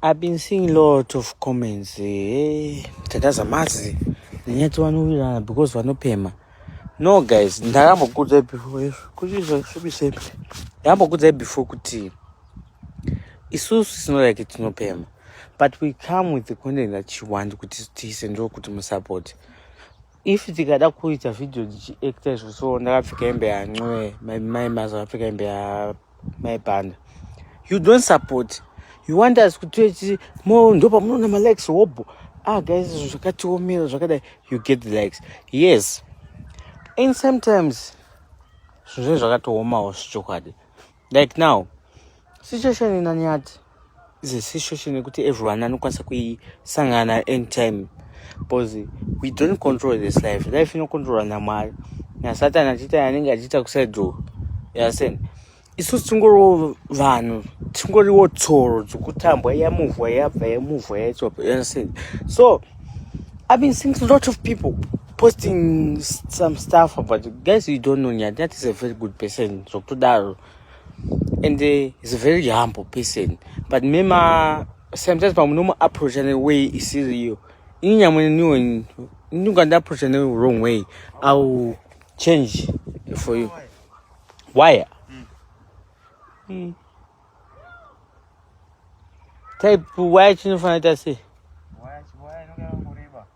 I've been seeing lot of comments eh, tataza mazi nenyati vanowirirana because vanopema no guys ndakambokudzai before izvo kuti izvo zvibisei ndakambokudzai before kuti isusu sinorake tinopema but we come with the content that you want kuti tiise ndo kuti musupport if tikada kuita video dzichiacta izvo so ndakapfeka hembe yancoe mai mazapfeka hembe ya mai panda you don't support you want us kuti mo ndo pamunoona malikes hobho ah guys zvakatiomera zvakadai you get the likes yes and sometimes zvinhu zvakatoomawo zvechokwadi like now situation inanyati is a situation yekuti everyone anokwanisa kuisangana anytime because we don't control this life life inokontrolwa namwari nasatan achiita anenge achiita kusaidzo yasen isusu tingoriwo vanhu tingoriwo tsoro dzokutambwa yamuvwa yabva yamuvwa yaitsopa yasen so i been seeing a lot of people posting some stuff about guys you don't know nyati nyati is a very good person zvokutodaro so, and uh, he's a very humble person but mema sometimes pamunomuapproacha neway isiriyo ini nyamwe niwo ndingandiapproacha ne wrong way iwill change for you wire mm. Mm. type wire chinofanira ta sei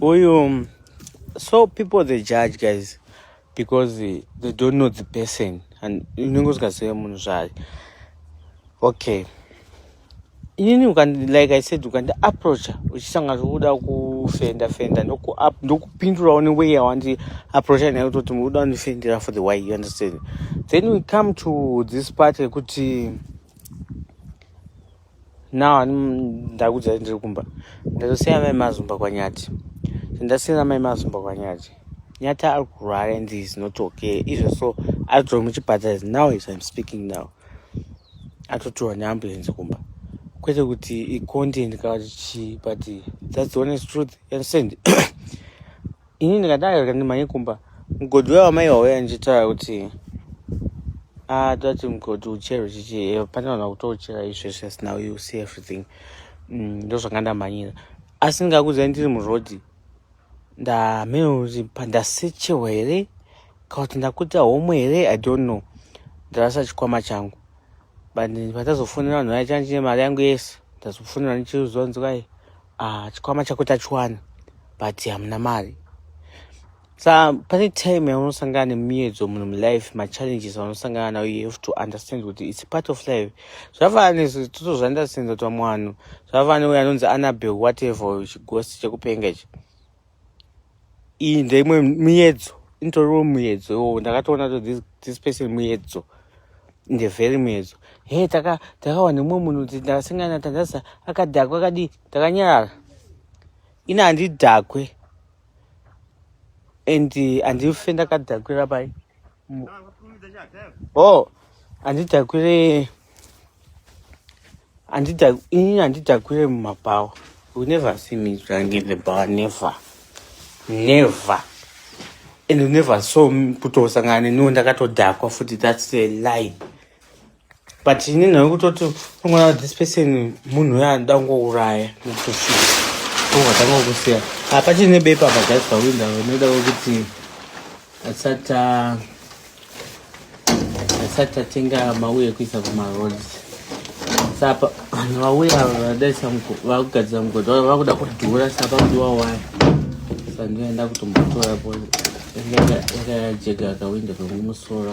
uyu so people they judge guys because they don't know the person and unenge usingazive munhu zvaye okay inini like i said ukandi approacha uchisanga zvekuda kufenda fenda ndokupindurawo neway yawandi approacha nayo kutoti mukuda kundifendera for the way you understand then we come to this part yekuti now ani ndakudzai ndiri kumba ndazosiya mai mazumba kwanyati ndasiyana mai mazumba kwanyati nyati ari kurwara and is not okay izvo so ari kutori muchipata is now is im speaking now atotiwa neambulensi kumba kwete kuti icontent kati chii but thats the honest truth understand ini ndikadaro ndimhanye kumba mugodhi uya wamai wauya ndichitaura kuti ah, tati mugodhi uchero chichi eh, pane vanhu vakutouchera izvezve snow you see everything mm, ndozvanga ndamhanyira asi ndingakudzai ndiri murodhi ndamhena kuti pandasechewa here kana kuti ndakuita homwe here i don't know ndarasa chikwama changu but pandazofonera vanhu vaya changa chine mari yangu yese ndazofonera ndichiuziwa nzikai ah, chikwama chako tachiwana but hamuna mari sa pane time yaunosangana nemiedzo munhu mulife machallenges aunosangana nayo you have to understand kuti its part of life zvafana nezvo totozviunderstanda kuti vamwe vanhu zvafana neuyo anonzi anabel whatever chigosi chekupenga ichi iyi ndeimwe muyedzo initoriwo muyedzo iwowo ndakatoona to this, this person muyedzo inde very muyedzo he taka takawa nemumwe munhu kuti ndakasangana tandasa akadhakwa akadii takanyarara ini handidhakwe and handife ndakadhakwira pai Oh, handidhakwire ini handidhakwire mumabhawa you never see me drunk in the bar never never and you never saw kutosangana neniwo ndakatodhakwa futi that's a lie but ini nhave kutoti unogona this person munhu uyo anoda kungouraya nekutosvika ungatanga kukusiya apa chine bepa pagasi pawinda vanoda kuti asati asati atenga mauye ekuisa kumaroads sapa vanhu vauya ava vadaisa vakugadzira mugodhi vaa vakuda kudhura sapa kudiwa waya sandoenda kutombotora po yakayajega akawinda kwemumusoro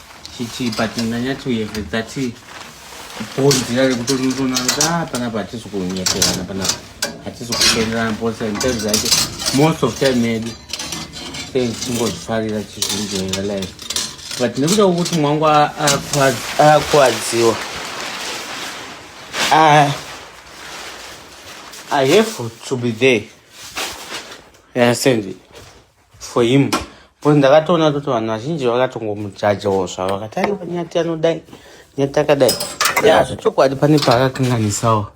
Chichi but ndanyatsoyeve that bhonzi rari kutonotoona kuti ah panapa hatisi kunyeterana panapa hatisi kutenderana bhonzi nditari zvacho most of time yedu sei tichingozvifarira chizvinjoera life but nekuda kwekuti mwangu akuadziwa I, I have to be there. You understand? for him but ndakatoona kuti vanhu vazhinji vakatongomujajawo zvavo vakati aiwa nyati anodai nyati akadai ya zvechokwadi pane paakakanganisawo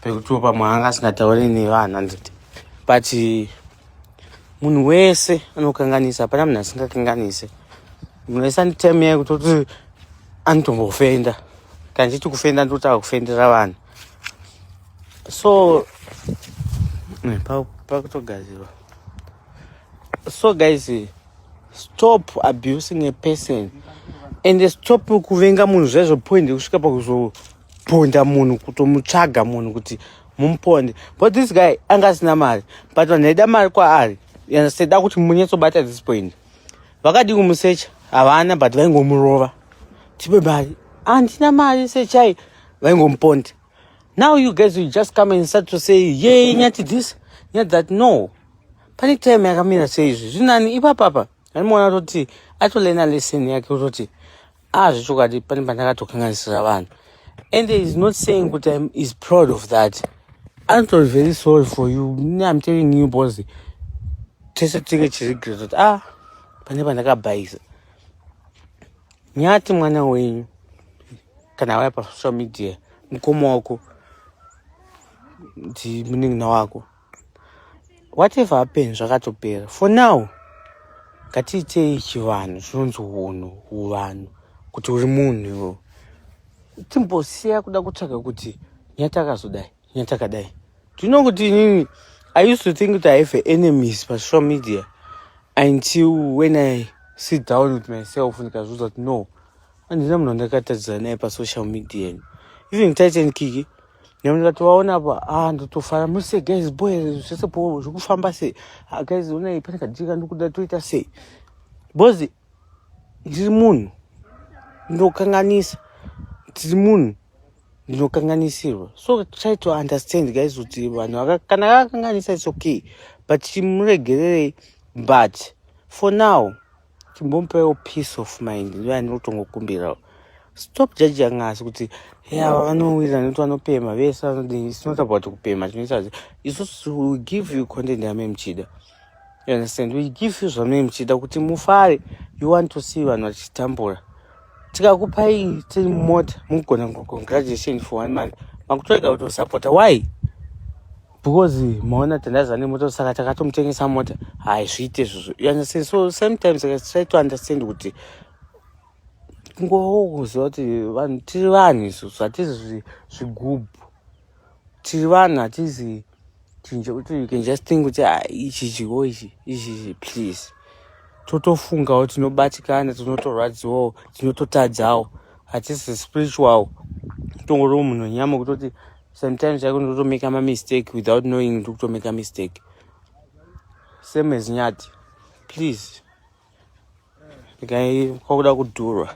pekutiwo pamwe anga asingataure nevanhu anditi but munhu wese anokanganisa hapana munhu asingakanganise munhu wese anitime yaye kutoti anotombofenda kana ndichiti kufenda ndotava kufendera vanhu so pakutogadzirwa so guys stop abusing a person and stop kuvenga munhu zvaizvo point kusvika pakuzoponda munhu kutomutsvaga munhu kuti mumuponde but this guy anga asina mari but vanhu aida mari kwaari saida kuti munyatsobata this point vakadii kumusecha havana but vaingomurova tipe mari handina mari sechai vaingomuponde Now you guys will just come and start to say, yay, nyati this, nyati that. No. Pane time yakamira sei izvi. Zvinani ipapapa. Anomuona toti atolena lesson yake utoti ah zvechokwadi pane pandakatokanganisira vanhu. And he is not saying kuti I'm is proud of that. I'm not very sorry for you. I'm telling you boss. Tese tinge chirigreto. Ah, pane pandakabhaisa. nyati mwana wenyu kana waya pasocial media mukoma wako ndi munin'ina wako whatever happen zvakatopera for now ngatiitei chivanhu zvinonzi hunhu huvanhu kuti uri munhu iwo timbosiya kuda kutsvaga kuti nyati akazodai nyatakadai do you know kuti inini i used to think kuti i have enemies pasocial media until when i sit down with myself ndikazviudza kuti no handina munhu andakatadzira naye pasocial media even titan kiki nyamu ndikatovaona apa a ah, ndotofara muse guys boy zvese po zvekufamba sei ah, guys onai pane kadika ndikuda toita sei bcoz ndiri munhu ndokanganisa ndiri munhu ndinokanganisirwa so try to understand guys kuti vanhu kana akakanganisa its okay but chimuregererei but for now chimbomupewo peace of mind ndiyo yandinotongokumbirawo stop judging us kuti ava vanowirirana nekuti vanopema vese vanodii it's not about kupema tinoita kuti isusu will give you content yame muchida You understand? We give you zvamunenge muchiita kuti mufare. You want to see vanhu vachitambura. Tikakupai ti mota mugona congratulation for one month. Makutorega kutosapota. Why? Because maona tandaza nemota saka takatomutengesa mota. Haizviite izvozvo. You understand? So sometimes I try to understand kuti kungowo kuziva kuti vanhu tiri vanhu isu zvatizi zvigubhu tiri vanhu hatizi chinja kuti you can just think kuti ah, ichi chiwo ichi ichi please totofungawo tinobatikana tinotorwadziwawo tinototadzawo hatisi spiritual tongoriwo munhu wenyama kutoti sometimes chake ndotomeka mamistake without knowing ndiri kutomeka mistake same as nyati please ndikaiakuda kudhurwa